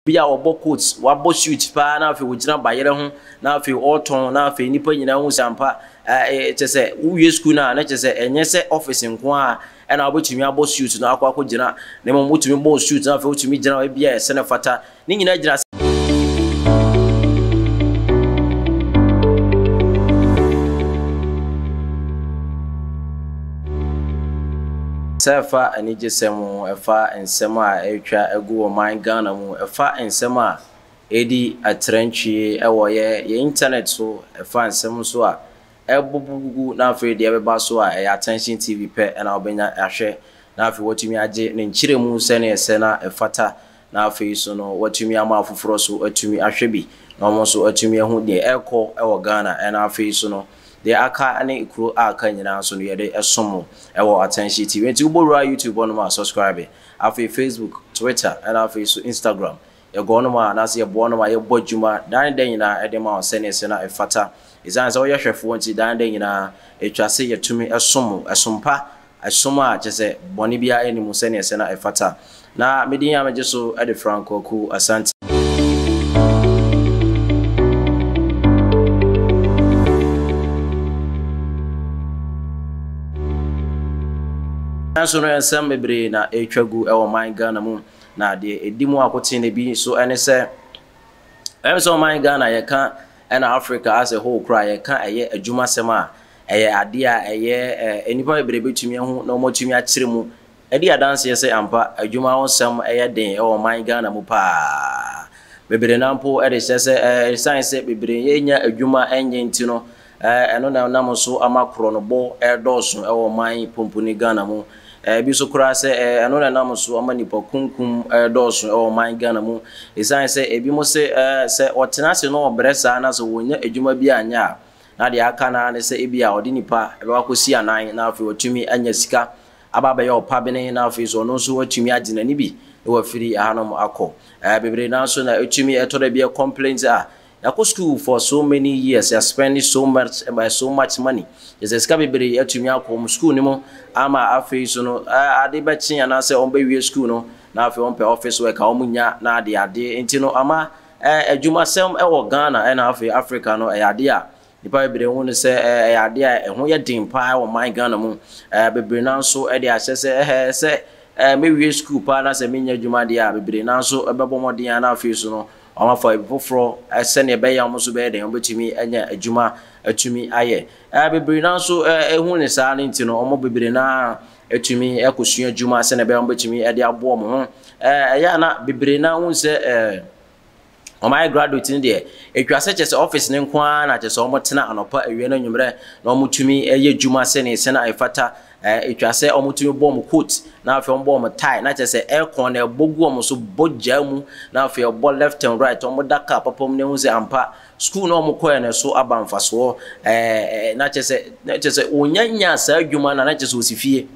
Bi a ɔbɔ coat, wabɔ suit paa na afei ogyina bayerɛ ho na afei ɔretɔn na afei nnipa nyinaa hu sɛ ampa kyerɛ sɛ wowie sukuu no a na kyerɛ sɛ ɛnyɛ sɛ office nko ara na wobɛtumi abɔ suit no akɔ akɔgyina na mmom wotumi bɔ wo suit na afei wotumi gyina baabi a ɛsɛ na ɛfata ne nyinaa gyina Sɛ ɛfa anigyesɛm ho, ɛfa nsɛm a ɛretwa agu wɔ man Ghana mu, ɛfa nsɛm a ɛredi atrantwie wɔ yɛn internet so, ɛfa nsɛm nso a ɛrebobɔ gugu na afei deɛ ɛbɛba so a ɛyɛ Attention TV pɛ na wobɛnya ahwɛ na afei woatumi agye ne nkyerɛmu sɛdeɛ ɛsɛ na ɛfata. na afei nso no wɔatumi ama afoforɔ nso atumi ahwɛ bi na wɔn nso atumi ahu deɛ ɛrekɔ wɔ Ghana na afei nso no deɛ aka ne kuro a aka nyinaa nso no yɛde ɛsom mo ɛwɔ Atɛnhye TV nti wobɔ wura YouTube hɔ nom a subscribe afei Facebook, Twitter na afei nso Instagram yɛkɔ hɔ nom a anaasɛ yɛboa hɔ nom a yɛbɔ adwuma daa ne da nyinaa de ma wɔn sɛdeɛ ɛsɛ na ɛfata ɛsiane sɛ woyɛ hwɛfoɔ nti daa ne da nyinaa ɛtwa se yɛtumi som mo ɛsom pa som a kyerɛ sɛ bɔne biara nni mu sɛnea ɛsɛ na ɛfata. Na me din a megye so de Frank Kwaku Asante. Nanso no nsɛm bebree na ɛretwa gu wɔ ɔman Ghana mu, na deɛ ɛdi mu akoten bi nso ne sɛ, ɛyɛ sɛ ɔman Ghana yɛka Ɛna Africa as a whole koraa yɛka ɛyɛ adwumasɛm a, ɛyɛ adeɛ a ɛyɛ ɛ, nnipa bebree bɛtumi ahu na wɔatumi akyerɛ mu adi adanseɛ sɛ ampa adwuma ho sɛm yɛ den wɔ ɔman Ghana mu pa ara. Bebree no ara mpo de kyerɛ sɛ ɛ, ɛsiane sɛ bebree renya adwuma nyɛ nti no, ɛ, ɛno na ɛnam so ama korɔnobɔ redɔɔso wɔ ɔman pumpuni Ghana mu. Ebi nso koraa sɛ ɛno na ɛnam so ama nnipakunkum redɔɔso wɔ ɔman Ghana mu esiane sɛ ebinom se sɛ wɔtena ase na wɔbrɛ saa na sɛ wɔnnya adwuma bi anyɛ a, na deɛ aka no ara ne sɛ ebia ɔde nnipa bɛkɔ akɔsi anan na afei watumi anya sika aba abɛyɛ ɔpabene na afei nso ɔno nso watumi agye n'ani bi na wafiri ɛhanom akɔ bebree. Nanso na ɛtumi ɛtɔ da bi complaint a Yɛakɔ sukuu for so many years, yɛaspendi so much by so much money, yɛsɛ sika bebree atumi akɔ wɔn sukuu no mu ama afei so no ade bɛkye anaasɛ wɔbɛwie sukuu no na afei wɔpɛ office work a wɔnnya na adeade nti no ama adwumasɛm wɔ Ghana na afei Africa no ɛyɛ adeɛ a Nnipa bebree hu no sɛ ɛyɛ adeɛ a ɛho yɛ den pa ara wɔ man Ghana mu. Bebree nan nso de ahyɛ sɛ ɛhɛɛ sɛ mɛwie sukuu pa ara na sɛ mennya adwuma deɛ a, bebree nan nso bɛbɔ mmɔden ara na afei nso no wɔafa baabi foforɔ sɛdeɛ ɛbɛyɛ a wɔn nso bɛyɛ dɛn, wɔbɛtumi anya adwuma atumi ayɛ. Bebree nan nso hu no saa no nti no, wɔn bebree no ara tumi kɔsua adwuma sɛdeɛ ɛbɛyɛ a wɔbɛtumi de aboa wɔn ho. Ɛyɛ a na bebree no ara hu sɛ ɛɛ. wɔayɛ graduate no deɛ, ɛtwa sɛ kyerɛ sɛ office no nko ara na kyerɛ sɛ wɔtena anɔpa, awia ne anwummerɛ na wɔtumi yɛ adwuma sɛdeɛ ɛsɛ na ɛfata. Ɛtwa sɛ wɔtumi bɔ wɔn coat na afei wɔbɔ wɔn tie na kyerɛ sɛ aircon no ɛbɔ gu wɔn so bɔ gyaa mu na afei ɛbɔ left and right, wɔda car papa mu na ɛhu sɛ ampa school no a wɔkɔeɛ no ɛso aba mfasoɔ. Na kyerɛ sɛ, na kyerɛ sɛ wɔnya nyaa saa adwuma no a na kyerɛ sɛ wɔsi fie.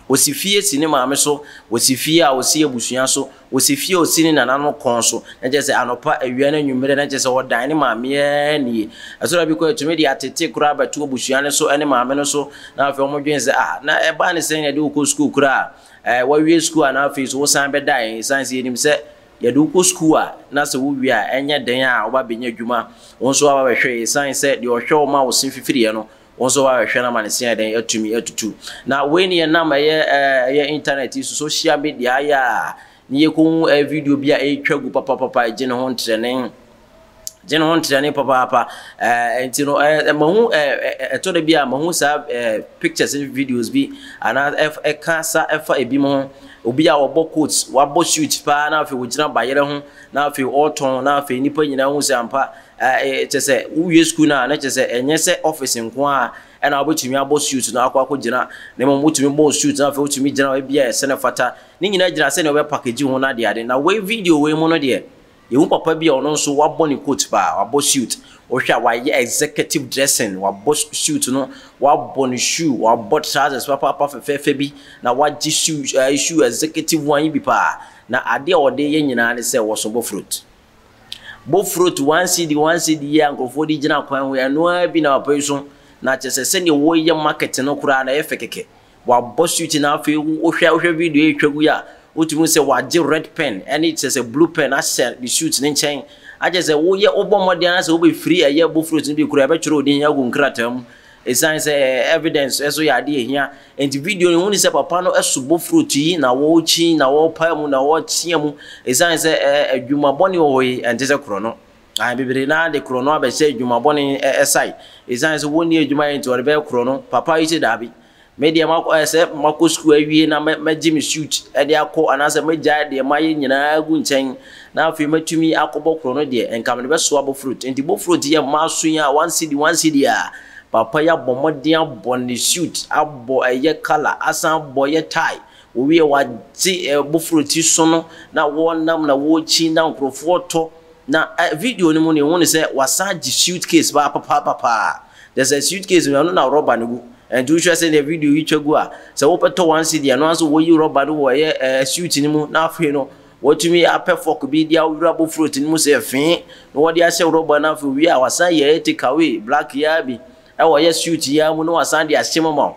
Osi fie si ne maame so, osi fie a osi abusua so, osi fie a osi ne nananom kɔn so, na kyerɛ sɛ anɔpa, awia ne anwummerɛ, na kyerɛ sɛ ɔdan ne maame ara nie. Ɛso na bi koraa tumi de atete koraa bɛto abusua no so ne maame no so, na afei wɔdwene sɛ, Ah, na ɛbaa ne sɛn na yɛde wo kɔ sukuu koraa? Ɛɛ, woawie sukuu a na afei nso wosan bɛda yɛn? Ɛsiane sɛ yɛnim sɛ yɛde wo kɔ sukuu a, na sɛ wowie a, ɛnyɛ den a woba bɛnya adwuma. Wo nso woaba bɛhwɛ yɛn, ɛsiane sɛ deɛ ɔhwɛ wo ma wo se fifiriiɛ no, Wo nso woahwehwɛ na ama ne se ayɛdɛn atumi atutu. Na wei ne yɛnam ɛyɛ ɛyɛ internet yi so social media ayɛ a ne yɛkɔhu ɛyɛ video bi a ɛretwa gu papapapa ɛgye ne ho ntrɛne gye ne ho ntrɛne papaapa ɛɛ nti no ɛɛ mahu ɛɛ ɛtɔ da bi a mahu saa ɛɛ pictures ne videos bi anaa ɛka sa ɛfa ebi mu ho obi a ɔbɔ coat wabɔ suit paa na afei ɔgyina bayerɛ ho na afei ɔretɔn na afei nipa nyinaa hu sɛ ampa Kyerɛ sɛ, wowie sukuu no a, na kyerɛ sɛ ɛnyɛ sɛ office nko ara na wobɛtumi abɔ suit no akɔ akɔgyina, na mmom wotumi bɔɔ suit no afei wotumi gyinaa hɔ baabi a ɛsɛ na ɛfata. Ne nyinaa gyina sɛnea wobɛpakegye ho no adeade. Na wei video wei mu no deɛ, yɛhu papa bi a ɔno nso wabɔ ne coat paa, wabɔ suit. Wohwɛ a wayɛ executive dressing, wabɔ suit no, wabɔ ne shoe, wabɔ trousers papaapa fɛfɛɛfɛ bi, na wagye shoe, shoe executive one yi bi paa. Na adeɛ a ɔde reyɛ nyinaa ne sɛ ɔresɔ bɔfrot. Bɔ frot one cedi one cedi yi a nkurɔfoɔ de gyina kwan ho yi, ɛno ara bi na papa yi so. Na kyerɛ sɛ sɛdeɛ wɔreyɛ market no koraa no ɛyɛ fɛ kɛkɛ. Wɔabɔ suit no afei wohwɛ wohwɛ video yi retwa gu yi a, wotumi hu sɛ wɔagye red pen ne kyerɛ sɛ blue pen ahyɛ ne suit no nkyɛn. Akyerɛ sɛ woyɛ wobɔ mmɔden ara sɛ wobɛfiri ɛyɛ bɔ frot no bi koraa a, ɛbɛtwerɛ wo din agu nkrataa mu. Esiane sɛ evidence nso yɛ ade a ehia nti, video no huni sɛ papa no so bofurutu yi na ɔrekyi na ɔrepae mu na ɔreteɛ mu. Esiane sɛ adwuma bɔne wɔ hɔ yi, ɛnte sɛ korɔno. Ae, bebree no ara de korɔno abɛhyɛ adwuma bɔne sae. Esiane sɛ wɔnni adwuma yɛ nti, wɔde bɛyɛ korɔno. Papa yi se daabi. Me deɛ makɔ ayɛ sɛ makɔ sukuu awie na mɛgye me suit de akɔ anaasɛ mɛgyae deɛ mayɛ nyinaa agu nkyɛn na afei matumi akɔbɔ korɔ no deɛ, nka mede bɛsoa bofrot. Enti bofrot yɛ mmaa so yi a, one cedi, one cedi a, papa yi abɔ mmɔden abɔ ne suit, abɔ ɛyɛ colour, asan abɔ ɛyɛ tie, ɔwie wagye bofrot yi so no na wɔnam na wɔrekyin na nkorɔfoɔ retɔ. Na video no mu no, yɛhu no sɛ wasan agye suitcase paa papaapa paa. Kyerɛ sɛ suitcase no ɛno na rubber no gu. Nti wohwɛ sɛdeɛ video yi twa gu a, sɛ wopɛ tɔ one cedi a, ɛno ara nso wɔyi rubber no wɔ ɛyɛ ɛɛ suit no mu na afei no wɔatumi apɛ fork bi de awura abɔ fruit no mu sɛ fee na wɔde ahyɛ rubber no afei owie a wasan yɛ ɛyɛ take away black yi ara bi ɛwɔ ɛyɛ suit yi ara mu na wasan de ahyɛ mu ama wo.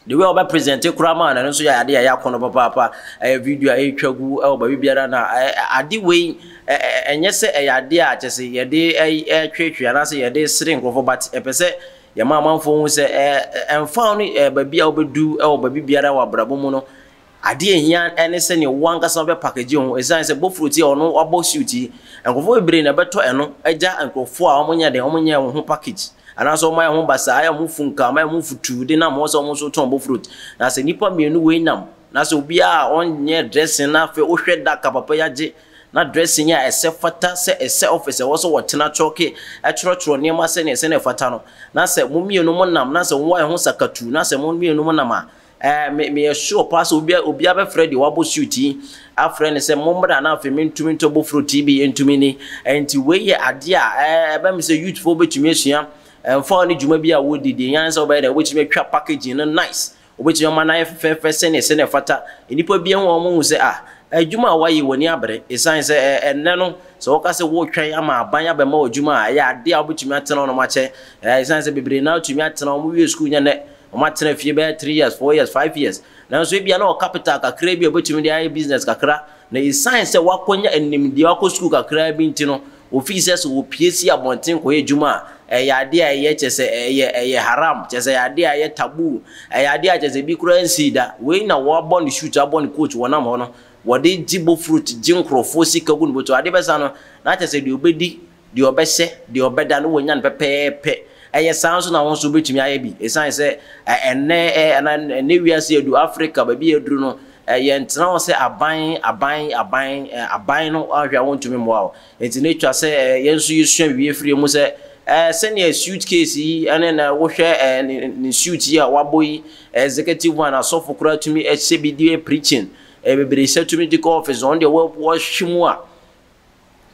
The way a ɔbɛ present koraa maa no ɛno nso yɛ adeɛ a ɛyɛ akɔnɔ papaapa ɛyɛ video a ɛretwa gu ɛwɔ baabi biara na ade wei ɛnyɛ sɛ ɛyɛ adeɛ a kyɛ sɛ yɛde ɛretwetwe anaasɛ yɛde sere nkurɔfoɔ but ɛpɛ sɛ yɛma amanfoɔ hu sɛ ɛmfa no baabi a wobɛdu ɛwɔ baabi biara wɔ abrabɔ mu no Adeɛ a ɛhia ne sɛdeɛ wo ankasa wobɛ package wo ho ɛsiane sɛ bofrot yi a ɔno wabɔ suit yi nkorɔfoɔ bebree na ɛbɛtɔ ɛno agya nkorɔfoɔ a wɔnyɛ dɛn wɔn nyɛɛ wɔn ho package anaasɛ wɔn ayɛ wɔn ho basaa ayɛ wɔn ho funkaa wɔn ayɛ wɔn ho futuu de nam hɔ sɛ wɔn nso tɔn bofrot na sɛ nnipa mmienu wei nam na sɛ obiara a ɔnyɛɛ dressing na afei wohwɛ da ka papa yi agye na dressing a ɛsɛ fata sɛ ɛsɛ office ɛwɔ sɛ wɔtena kyɔɔke ɛtwerɛtwerɛ nneɛma sɛdeɛ ɛsɛ na ɛfata no na sɛ mo mmienu mo nam na sɛ wɔayɛ ho sakatuu na sɛ mo mmienu mo nam a Ɛɛ, me, meyɛ sure paa sɛ obi, obiara bɛfrɛ deɛ wabɔ suit yi afrɛ no sɛ mommra na afei mentumi ntɔ bofuro TB ntumi ni. Ɛnti wei yɛ adeɛ a ɛɛ, ɛbɛ me sɛ youthfoɔ bɛtumi asua ɛmfa ne dwuma bi a wɔredi deɛ hia ne sɛ wobɛyɛ dɛn, wobɛtumi atwa packaging no nice, wobɛtumi ama no ayɛ fɛfɛɛfɛ sɛdeɛ, sɛdeɛ ɛfata. Nnipa bi ahu a wɔhu sɛ ah, adwuma a woayɛ w'ani abere ɛsiane sɛ ɛɛ, ɛnnɛ no sɛ woka sɛ woretwɛn ama aban abɛma wo adwuma a ɛyɛ adeɛ a wobɛtumi atena hɔnom akyɛ ɛɛ, ɛsiane sɛ bebree no ara tumi atena, wɔwie sukuu nyɛ nnɛ. Wɔatena fie bɛyɛ three years, four years, five years, nanso ebia na ɔwɔ capital kakraa bi a obetumi de ayɛ business kakra, na esiane sɛ wakonya nimdeɛ, wakɔ sukuu kakraa bi nti no, ofii sɛ sɛ opue si abɔnten kɔyɛ adwuma a, ɛyɛ ade a ɛyɛ, kyerɛ sɛ, ɛyɛ, ɛyɛ haram, kyerɛ sɛ, ɛyɛ ade a ɛyɛ taboo, ɛyɛ ade a kyerɛ sɛ ebi koraa nsii da. Wei na wɔabɔ no shoot, abɔ no coat, wɔnam hɔ no, wɔde gye bofurot, gye nkurɔfoɔ sika gu ne bɔtɔ. Adeɛ bɛsa no, na kyerɛ sɛ deɛ obedi. Deɛ ɔbɛhyɛ, deɛ ɔbɛda no wanya no pɛpɛɛpɛ. Ɛyɛ saa nso na wo nso wobɛtumi ayɛ bi. Ɛsiane sɛ ɛnnɛ anaa ɛnnɛ wiase adu, Afrika baabi a aduru no, yɛntena hɔ sɛ aban, aban, aban, aban no ahwɛ a wɔntumi mmoa wo. Enti na ɛtwa sɛ yɛn nso yɛsua wie firi mu sɛ sɛdeɛ suit case yi ne na wohwɛ ne suit yi a wabɔ yi, executive one, asɔfo koraa tumi hyɛ bi de preaching, bebree hyɛ tumi de kɔ office, wɔn deɛ wɔhwe mu a,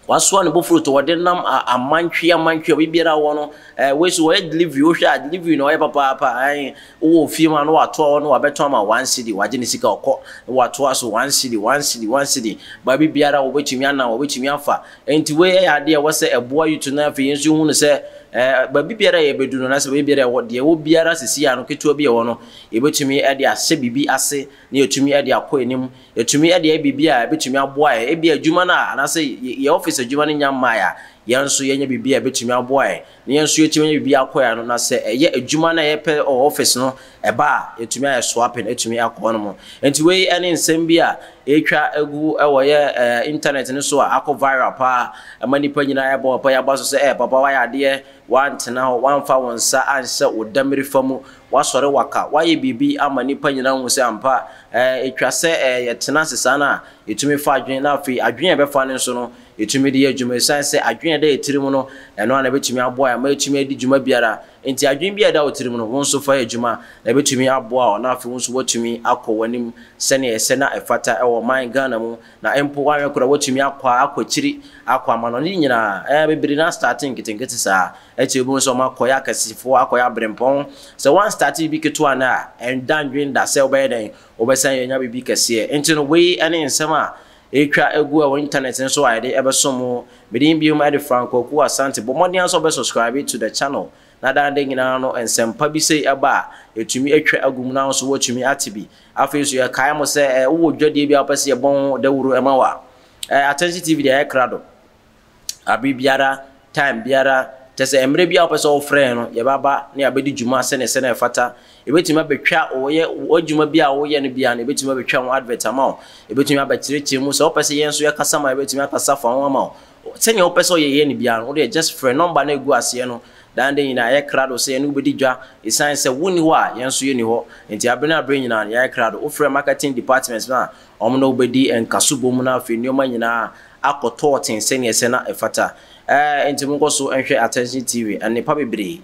Wasoa ne bofuro to wɔde nam a amantwi amantwi obi biara wɔ no ɛɛ eh, wei so wɔyɛ delivery wohwɛ a delivery na ɔyɛ papaapa ɛn eh, wowɔ ofie mu a na watoa hɔ na wabɛtɔ ama one city wagye ne sika ɔkɔ na watoa so one city one city one city baabi biara wɔbɛtumi anam wɔbɛtumi afa nti wei yɛ adeɛ ɛwɔ sɛ ɛboa yutu na afei yɛn nso hu no sɛ ɛɛ eh, baabi biara yɛ bɛdu no na sɛ baabi biara ɛwɔ deɛ ɛwɔ biara sisi ano ketewa bi ɛwɔ no yɛbɛtumi ɛde ahyɛ biribi ase na yɛtumi ɛde akɔ anim Yɛtumi de yɛ biribi a ɛbɛtumi aboa yɛn, ebia adwuma no a anaasɛ yɛn office adwuma no nnya mmaeɛ a, yɛn nso yɛnyɛ biribi a ɛbɛtumi aboa yɛn na yɛn nso yɛtumi anya biribi akɔ yɛn ano. Na sɛ ɛyɛ adwuma no a yɛpɛ wɔ office no ɛba a, yɛtumi ayɛ swapping atumi akɔ hɔ nom. Nti wei ne nsɛm bi a ɛretwa agu wɔ yɛ internet no so a akɔ viral paa ma nnipa nyinaa ɛrebɔ papa yi aba so sɛ, Ɛɛ papa woayɛ adeɛ, woantena hɔ, woamfa wo nsa anhyɛ wo damirifa mu, Woasɔre waka, woayɛ biribi ama nnipa nyinaa ahu sɛ ampa, ɛɛ, etwa sɛ, ɛɛ, yɛtena ase saa no a, etumi fa adwene, na afei adwene a ɛbɛfa no nso no, etumi de yɛ adwuma. Esiane sɛ adwene a ɛda yɛn tirim no, ɛno ara na ebetumi aboa yɛn ama yɛatumi adi dwuma biara nti, adwene biara a ɛda wo tirim no, wo nso fa yɛ adwuma, na ebetumi aboa wo, na afei wo nso woatumi akɔ w'anim sɛnea ɛsɛ na ɛfata wɔ ɔman Ghana mu Na mpo wanyɛ koraa watumi akɔ a akɔ akyiri akɔ amanɔne ne nyinaa ɛɛ bebree no astate nketenkete saa akyire wobɛhu sɛ wɔn akɔyɛ akɛsefoɔ akɔyɛ abrempɔn sɛ wɔn astate biribi ketewa nnɛ a ɛnda ndwen da sɛ wobɛyɛ dɛn wobɛsan yɛ nya biribi kɛseɛ nti no wei ɛne nsɛm a ɛretwa agu ɛwɔ internet no so a yɛde ɛbɛso mo medin biom ɛde Frank Kwaku Asante bɔ mmɔden ara sɛ wobɛ subscribe to the channel na daa da nyinaa no nsɛmpa bi sei ɛba a ɛtumi atwa agu mu na wo nso woatumi ate bi Afei nso yɛkae mo sɛ wowɔ dwadie bi a wopɛ sɛ yɛbɔ ho dawuro ma wo a, Attention TV deɛ yɛ krado abere biara, time biara, kyɛ sɛ mmerɛ biara wopɛ sɛ wofrɛ yɛn no yɛbɛaba na yɛabɛdi dwuma sɛdeɛ sɛdeɛ ɛfata. Yɛbɛtumi abɛtwa wɔyɛ adwuma bi a woyɛ no biara no yɛbɛtumi abɛtwa ho advert ama wo, yɛbɛtumi abɛkyerɛkyerɛ mu, sɛ wopɛ sɛ yɛn nso yɛkasa ma yɛbɛtumi akasa fa ho ama wo. Sɛnea wopɛ sɛ ɔyɛ yɛ no biara no, wo deɛ just frɛ. Nɔmba no a ɛgu aseɛ no, daa nda nyinaa yɛyɛ krado sɛ yɛne wo bɛdi dwa. Ɛsiane sɛ wonni hɔ a, yɛn nso yɛnni hɔ nti, abere ne abere nyinaa no, yɛayɛ krado. Wofrɛ marketing department no a, wɔn ne wo bɛdi nkaso bom na afei nneɛma nyinaa akɔ tɔɔten sɛnea ɛsɛ na ɛfata. Ɛɛ nti monkɔ so nhwɛ Attention TV, nnepa bebree.